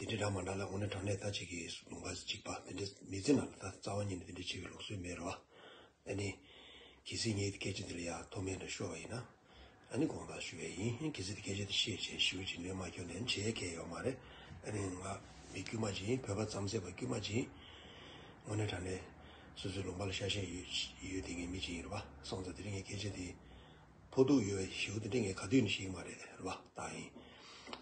འདི་འདྲའི་སྒྲ་མ་འདྲ་ལ་ངོ་ནས་དྲང་ནས་ད་ཅིག་གིས་སུ་ལུང་པ་གཅིག་པ་འདི་འདྲའི་མི་ཚེ་ན་ད་རྩ་བ་ཉིད་ནས་འདི་འདྲའི་ཆེ་བའི་ལུགས་སྲོལ་མེད་རེད་བ། ད་ནི། གལ་སྲིད་ངས་སྐད་ཆ་འདི་ལ་ཡ་ཐོག་མེད་དུ་ཤོར་བ་ཡིན་ན། ད་ནི་དགོངས་དག་ཞུ་བའི་ཡིན་གལ་སྲིད་སྐད་ཆ་འདི་བཤད་བྱས་ཞེ་བོ་ཅིག་སྣོན་མ་སྐྱོན་ནས་འཆད་ཡ་གལ་ཡོད་མ་རེད། ད་ནི་ང། མི་དཀྱུས་མ་ཅིག་ཡིན་བོད་པ་རྩམ་ཟས་པ་དཀྱུས་མ་ཅིག་ཡིན། ངོ་ནས་དྲང་ནས། སོ་སོའི་ལུང་པ་ལ་ཤ་ཞེན་ཡོད་ཡོད་དེ་ངའི་མི་ཅིག་ཡིན་རེད་བ། སོང་ཙང་འདི་རིང་ངས་སྐད་ཆ་འདི། ཕོ་གདུགས་ཡོད་བས་བྱིའུ་དེ་སྤྲིན་གྱི་ག་དུས་ནས་ཤི་གི་མ་རེད་ལབ་ལྟ་ཡིན།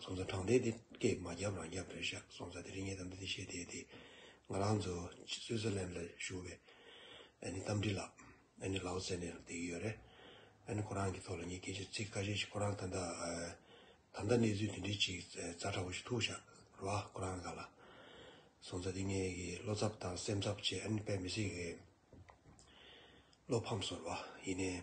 སོང་ཙང་དྲང་བདེན་དེ་སྐད་མ་རྒྱབ་རང་རྒྱབ་རེད་ཤག་སོང་ཙང་དེ་རིང་ངས་གཏམ་འདི་འདི་བཤད་བསྡད་དེ། ང་རང་ཚོ Switzerland ལ་བཞུགས་པའི་ཨ་ནི་གཏམ་འདྲི་ལབ་ཨ་ནི་ལའོ་ཙེ་ནས་རང་བསྡད་ཀྱི་ཡོད་རེད། ཨ་ནི་ཁོ་རང་གི་ཐོག་ལ་ངས་སྐད་ཆ་ཚིག་ཁ་ཤས་ཤིག་ཁོ་རང་ད་ལྟ་ད་ལྟ་གནས་ཚུལ་དེ་འདྲའི་ཅིག་རྩ་ཁྲ་བོ་ཞིག་ཐུག་ཤག་རོ་ཨ་ཁོ་རང་ག་ལ། སོང་ཙང་དེ་ངའི་གི་བློ་འཚབ་དང་སེམས་འཚབ་བཅས་ཨ་ནི་དཔེ་མི་སྲིད་གི། བློ་ཕམ་སོ་རོ་ཨ་ཡིན་ནའི།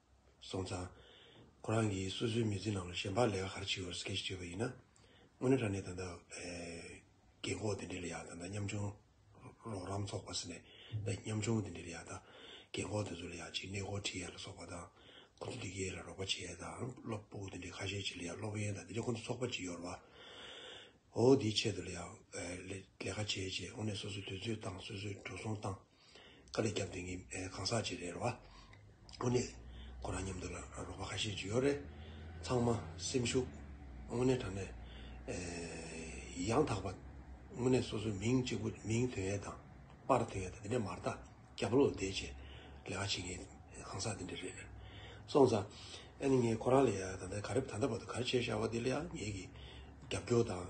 སོང་ཙང། ཁོ་རང་གིས་སོ་སོའི་མི་ཚེའི་ནང་ལ་གཞན་ཕག་ལས་ཀ་ག་རེ་བྱེད་འོས་སོ་སྐད་ཞིག་བརྗོད་པ་ཡིན་ན། དངོས་གནས་དྲ་གནས་ད་ལྟ། རྒན་ཁོག་དེ་འདྲས་ལ་ཡག་ད་ལྟ་མཉམ་ཆུང། རོགས་རམ་ཚོགས་པ་ཟེར་ནས་ད་ཡིན་མཉམ་ཆུང་དེ་འདྲས་ལ་ཡག་ད། རྒན་ཁོག་དེ་ཚོ་ལ་ཡག་ཅིག་གནས་སྐོར་ཁྲིད་ཡས་ལ་སོགས་པ་དང། ཁོ་ཚོ་འདི་གས་ལ་རོགས་པ་བྱེད་ཡས་དང་སློབ་སྤུག་དེ་འདྲས་ཁ་ཤས་བྱེད་ལ་ཡག་སློབ་ཡན་དང་དེ་འདྲས་ཁོ་ཚོ་ཚོགས་པ་གཅིག་ཡོར་བ། འོ་འོ་དེའི་ཆེད་དུ་ལ་ཡག། ལས་ཀ་བྱེད་བྱེད་དངོས་གནས་སོ་སོའི་དུས་ཚོད་བཏང་སོ་སོའི་འགྲོ་སོང་བཏང། ཁ་ལས་རྒྱབ་འདེང་གིས་གང་ཟག་ཅིག་རེད་བ། དངོས་གནས་ཁོ་རང་མཉམ་དུ་ལ་རོགས་པ་ཁ་ཤས་ཅིག་ཡོད་རེད། ཚང་མ་སེམས་ཤུགས་དངོས་གནས་དྲག་ནས་ཡང་དག་པ་དངོས་གནས་སོ་སོའི་མིང་གཅིག་པུ་མིང་དོན་ཡལ་དང། པར་དོན་ཡལ་དང་དེ་འདྲས་མར་ལྟ་རྒྱ་བློ་བདེ་བྱས་ལེ་བ་བྱེད་མཁན་གང་ཟག་དེ་འདྲས་རེད། སོང་ཙང་ཨ་ནི་ངས་ཁོ་རང་ལ་ཡང་ཡང་དང་དང་ག་རེ་བ་ད་ལྟ་བར་དུ་ག་རེ་བྱས་བཞག་བ་དེ་ལ་ཡང་ངེད་ཀྱིས་རྒྱབ་སྐྱོར་དང།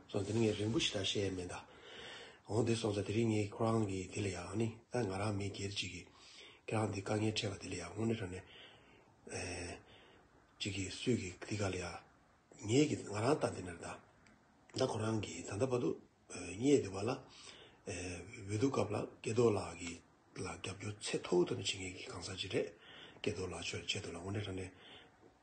སོང་དེ་རིང་ངས་རིན་པོ་ཆེ་དང་བཤད་ཡས་མེད་མདའ། འོང་དེ་སོང་ས་དེ་རིང་ངས་ཁོ་རང་གི་དེ་ལ་ཡང་ནི་ད་ང་རང་མི་སྒེར་ཅིག་གིས་ཁྱེད་རང་འདི་དཀའ་ངལ་འཕྲད་པ་དེ་ལ་ཡང་དངོས་གནས་རང་ནས་ཅིག་གིས་སུས་གིས་འདི་ག་ལ་ཡང་ངས་གིས་ང་རང་ད་འདི་ནས་ད་ད་ཁོ་རང་གིས་ད་ད་བ་དུ་རྙེད་དེ་བ་ལ་འོས་བསྡུ་སྐབས་ལ་སྐལ་རྡོར་ལགས་གི་ལ་རྒྱབ་སྐྱོར་ཚད་མཐོ་བོ་ཐོབ་པའི་བྱེད་མཁན་གི་གང་ཟག་ཅིག་རེད་སྐལ་རྡོར་ལགས་ཆོས་ཆད་འདུག་ལ་དངོས་གནས་རང་ནས་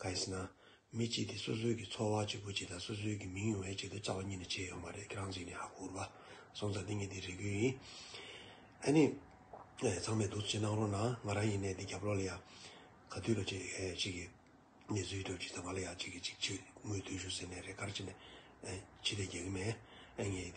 གང་ཞེ་ན། མི་གཅིག་དེ་སོ་སོའི་གི་ཚོར་བ་གཅིག་པོ་གཅིག་དང་སོ་སོའི་གི་མིང་ཡོང་བའི་ཆེད་དུ་བཅའ་བ་གཉིས་ནས་བྱས་ཡོང་བ་རེད་ཁྱེད་རང་གཅིག་ནས་ཧ་གོ་རུ་བ་སོང་ཙང་འདི་གཉིས་དེ་རེ་དགོས་ཡིན། ཨ་ནི། ཚང་མས་སྡུག་ཅིག་གནང་རོགས་གནང་ང་རང་ཡིན་ནའི་འདི་རྒྱབ་ལོག་ལ་ཡང། ག་དུས་ལ་ཅིག་གཅིག་གི་གནས་ཚུལ་སྒྲོག་ཅིག་དང་ང་ལ་ཡང་གཅིག་གི་གཅིག་ཕྱི་དངུལ་ལྟོས་ཤོག་ཟེར་ནས་རེ་དཀར་ཅིག་ནས། ཕྱི་དེ་རྒྱག་གི་མེད། ངས